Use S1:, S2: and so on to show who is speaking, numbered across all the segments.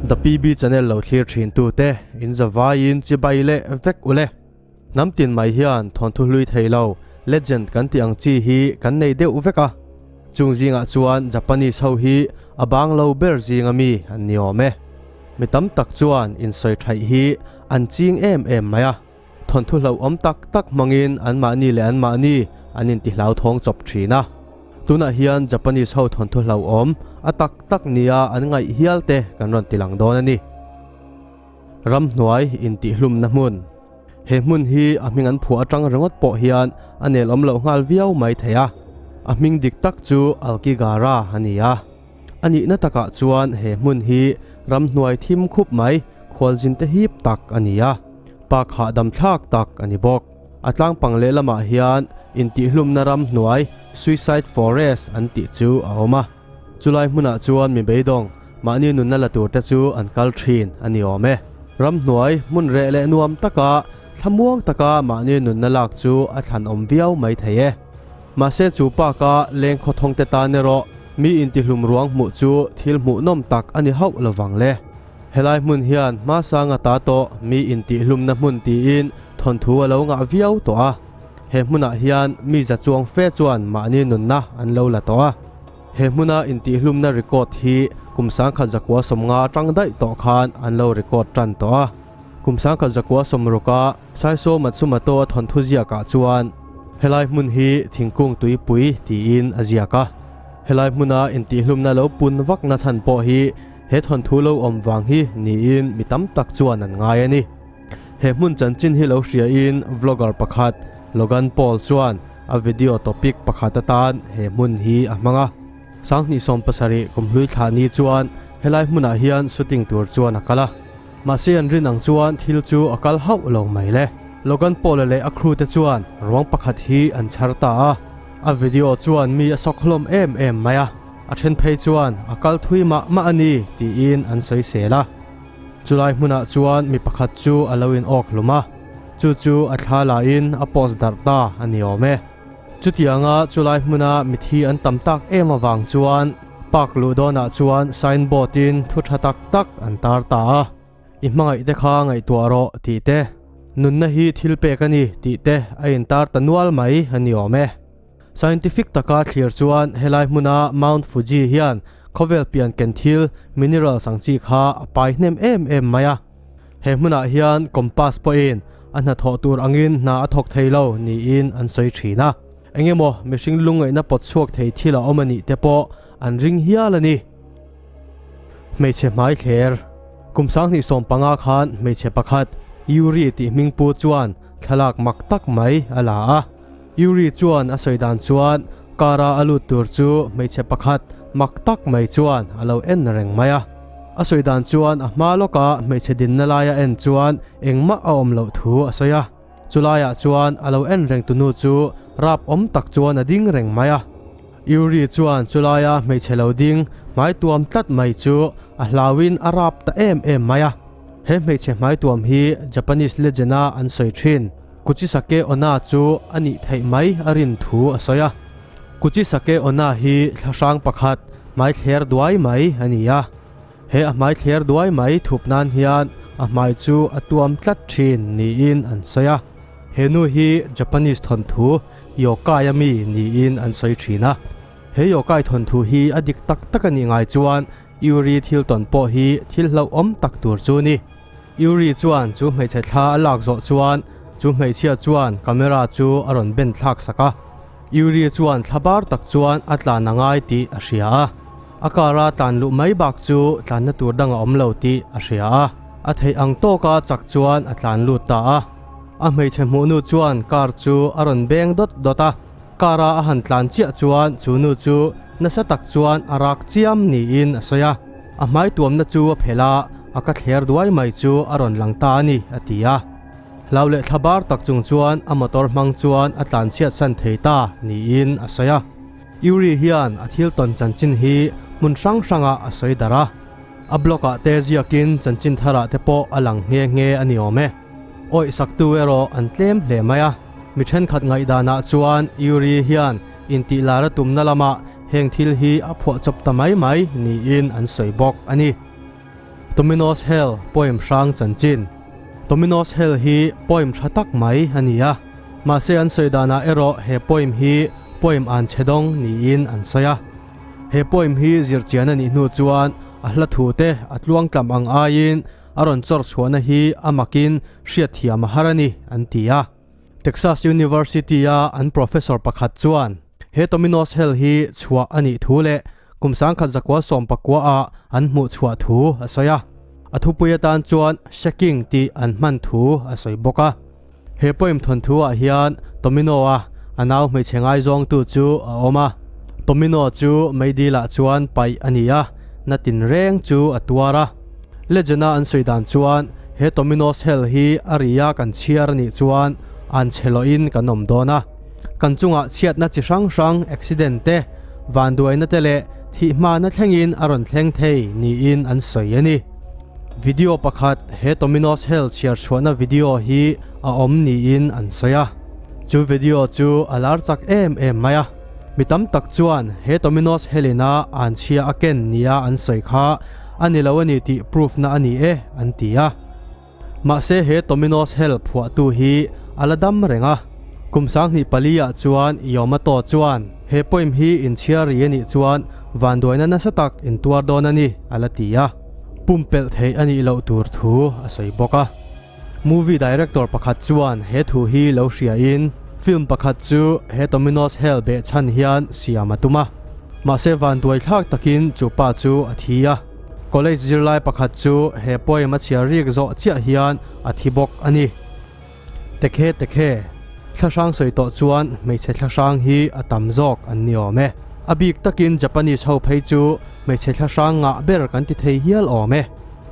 S1: The PB Channel lo thlir thin tu te in zavai in chibai leh vek u le. Hnam tin mai hian thawn thu hlui thei lo legend kan tih ang chi hi kan nei deuh vek a. Chung zing ah chuan Japanese ho hi a bang lo ber zing a mi an ni awm e. Mi tam tak chuan in sawi thaih hi an ching em em mai a, thawnthu hlauhawm tak tak hmangin anmahni leh anmahni an intihlauh thawng chawp thin a. Tunah hian Japanese ho thawnthu hlauhawm a tak tak nia an ngaih hial te kan rawn ti lang dawn a ni. Ramhnuai intihhlumna hmun. He hmun hi a hming an phuah atang ringawt pawh hian a nelawm loh nghal viau mai thei a. A hming dik tak chu Alkigara a ni a. A nihna takah chuan he hmun hi ramhnuai thim khup mai, khualzin te hip tak a ni a, park hahdam thlak tak a ni bawk. A tlangpang lehlamah hian intihhlumna ramhnuai, suicide forest, an tih chu a awm a. Chulai hmunah chuan mi beidawng mahni nunna la tur te chu an kal thin a ni awm e. Ramhnuai hmun reh leh nuam taka thlamuang taka mahni nunna lak chu a thlan awm viau mai thei e. Mahse chu pa ka leng khaw thawngte tan erawh mi intihlum ruang hmuh chu thil hmuh nawm tak a ni hauh lo vang le. Helai hmun hian hmasanga ta tawh mi intihhlumna hmun tiin thawnthu a lo ngah viau tawh a. He hmunah hian mi za chuang fe chuan mahni nunna an lo la tawh a. He hmuna intihhlumna record hi kum sangkhat zakua sawmnga atang daih tawh khan an lo record tan tawh a. Kum sangkhat zakua sawmruka. Saisawma chu Mato a thawnthu ziakah chuan helai hmun hi thingkung tuipui tiin a ziak a. Helai hmuna intihhlumna lo pun vakna chhan pawh hi he thawnthu lo awm vang hi niin mi tam tak chuan an ngai a ni. He hmun chanchin hi lo hriain vlogger pakhat Logan Paul chuan a video topic pakhat atan he hmun hi a hmang a. Sanghnih sawm pasarih kum hlui thla ni chuan helai hmunah hian shooting tur chuan a kal a. Mahse an rin ang chuan thil chu a kal hauh lo mai le. Logan Paula leh a crew te chuan ruang pakhat hi an chhar ta a, a video chuan mi a sawkhlawm em em mai a, a then phei chuan a kal thui mah mah a ni tiin an sawisel a. Chulai hmunah chuan mi pakhat chu a lo in awk hlum a, chu chu a thla lahin a post darh ta a ni awm e. Chutianga chulai hmuna mithi an tam tak em avang chuan, Park luh dawnah chuan sign board in thu tha tak tak an tar ta a, I hmangaih te kha ngaihtuah rawh tih te, nunna hi thil pek a ni tih te a in tar ta nual mai a ni awm e. Scientific taka thlir chuan helai hmuna Mount Fuji hian khawvel pian ken thil, minerals, ang chi kha a pai hnem em em mai a. He hmunah hian compass pawhin a hnathawh tur angin hna a thawk thei lo niin an sawi thin a. Eng emaw mihring lungngaihna pawt chhuak thei thil a awm a nih te pawh an ring hial a ni. Hmeichhe hmai thler. Kum sang hnih sawm panga khan hmeichhe pakhat Yuri tih hming pu chuan thlalak mak tak mai a la a. Yuri chuan a sawi dan chuan kar a a lut tur chu hmeichhe pakhat mak tak mai chuan a lo en reng mai a. A sawi dan chuan a hma lawkah hmeichhe dinna laia en chuan engmah a awm loh thu a sawi a. Chulaiah chuan a lo en reng tu nu chu rap awm tak chuan a ding reng mai a. Yuri chuan chu laia hmeichhe lo ding hmai tuam tlat mai chu a hlauin a rap ta em em mai a. He hmeichhe hmai tuam hi Japanese legend a an sawi thin. Kuchisake Onna chu a nih theih mai a rin thu a sawi a. Kuchisake Onna hi thla hrang pakhat hmai thler duai mai a ni a. He a hmai thler duai mai thup nan hian a hmai chu a tuam tlat thin niin an sawi a. He nu hi Japanese thawnthu yokai a mi niin an sawi thin a. He yokai thawnthu hi a dik tak tak a nih ngai chuan Uri thil tawn pawh hi thil hlauhawm tak tur chu a ni. Yuri chuan chu hmeichhe thla a lak zawh chuan chu hmeichhia chuan camera chu a rawn ben thlak sak a. Yuri chuan thla bar tak chuan a tlan a ngai tih a hria a. A car a tlan luh mai bak chu tlanna tur dang a awm lo tih a hria a. A theih ang tawk a chak chuan a tlan lut ta a. A hmeichhe hmuhnu chuan car chu a rawn beng dawt dawt a. Car a a han tlan chiah chuan chu nu chu nasa tak chuan a rak chiam niin a sawi a, a hmai tuamna chu a phelh a, a ka thler duai mai chu a rawn lang ta a ni, a ti a. Hlau leh thla bar tak chung chuan a motor hmang chuan a tlan chhiatsan thei ta niin a sawi a. Yuri hian a thil tawn chanchin hi hmun hrang hrangah a sawi darh a, a blog ah te ziakin chanchin thar ah te pawh a lang nghe nghe a ni awm e. awihsaktu erawh an tlem hle mai a. Mi ṭhenkhat ngaihdanah chuan Yuri hian intihlar a tumna lamah heng thil hi a phuah chawp ta mai mai niin an sawi bawk a ni. Tominos Hell poem hrang chanchin. Tominos Hell hi poem ṭha tak mai a ni a, mahse an sawi danah erawh he poem hi poem an che dawng niin an sawi a. He poem hi zir chian a nih hnu chuan a hla thute a tluangtlam ang aiin a rawn chawr chhuahna hi a makin hriatthiam a har a ni, an ti a. Texas University-a an professor pakhat chuan he Tomino's Hell hi chhuah a nih thu leh kum sangkhat zakua sawm pakuaah an hmuh chhuah thu a sawi a. A thupui atan chuan shaking tih an hman thu a sawi bawk a. He poem thawnthu ah hian Tomino a a nau hmeichhe ngaizawng tu chu a awm a. Tomino chu Meidil ah chuan paih a ni a, na tin reng chu a tuar a. Legend a an sawi dan chuan he Tomino's hell hi a ri a kan chhiar a nih chuan an che loh in kan awm dawn a. Kan chung ah chhiatna chi hrang hrang, accident te, vanduaina te leh thih hmahna thleng in a rawn thleng thei niin an sawi a ni. Video pakhat he Tominos Health chhiarchhuahna video hi a awm niin an sawi a. Chu video chu a lar chak em em mai a. Mi tam tak chuan he Tominos Health ina an chhia a ken nia an sawi kha a ni lo a ni tih proof na a ni e an ti a. Mahse he Tominos Hell phuahtu hi a la dam reng a. Kum sanghnih pali ah chuan Yomataw chuan he poem hi inchhiar ri a nih chuan vanduaina nasa tak in tuar dawn a ni a la ti a. Pumpelh theih a nih loh tur thu a sawi bawk a. Movie director pakhat chuan he thu hi lo hria in film pakhat chu he Tominos Hell beh chhan hian siam a tum a. Mahse vanduai thlak takin chu pa chu a thi a. College zirlai pakhat chu he poem a chhiar riek zawh chiah hian a thi bawk a ni. Tekhe tekhe, thla hrang sawi tawh chuan hmeichhe thla hrang hi a tam zawk an ni awm e. A bik takin Japanese ho phei chu hmeichhe thla hrang ngah ber kan ti thei hial awm e.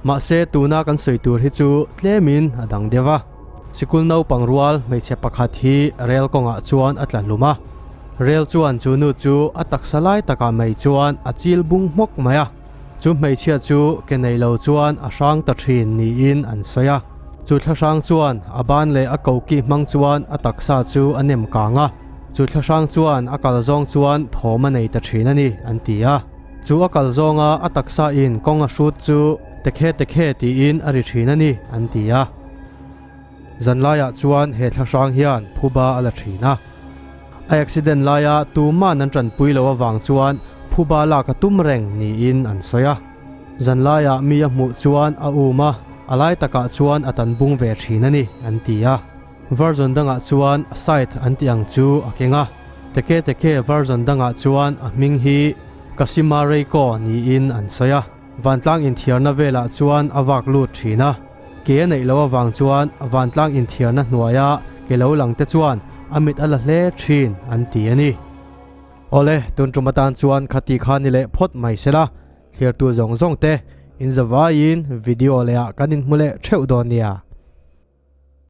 S1: Mahse tuna kan sawi tur hi chu tlemin a dang deuh a. Sikul naupang rual hmeichhe pakhat hi rel kawngah chuan a tla hlum a. Rel chuan chu nu chu a taksa lai takah mai chuan a chil bung hmawk mai a. Chu hmeichhia chu ke nei lo chuan a hrang ta thin niin an sawi a. Chu thla hrang chuan a ban leh a koki hmang chuan a taksa chu a nem kang a. Chu thla hrang chuan a kal zawng chuan thawm a nei ta thin a ni, an ti a. Chu a kal zawnga a taksa in kawng a hrut chu tekhe tekhe tiin a ri thin a ni, an ti a. Zan laiah chuan he thla hrang hian phuba a la thin a. A accident laia tuman an ṭanpui loh avang chuan phuba laka tum reng niin an sawi a. Zan laia mi a hmuh chuan a um a, a lai takah chuan a tan bung ve thin a ni, an ti a. Varzon dangah chuan Sait an tih ang chu a keng a. Teketeke Varzon dangah chuan a hming hi Kasimarei Kaw niin an sawi a. Vantlang inthiarna velah chuan a vak lut thin a, ke a neih loh avang chuan vantlang inthiarna hnuaia ke lo lang te chuan a mit a la hle thin an ti a ni. Awle, tun tum atan chuan khati kha ni leh phawt mai sela, thliartu zawng zawng te, in zavaiin video leh ah kan in hmu leh theuh dawn nia.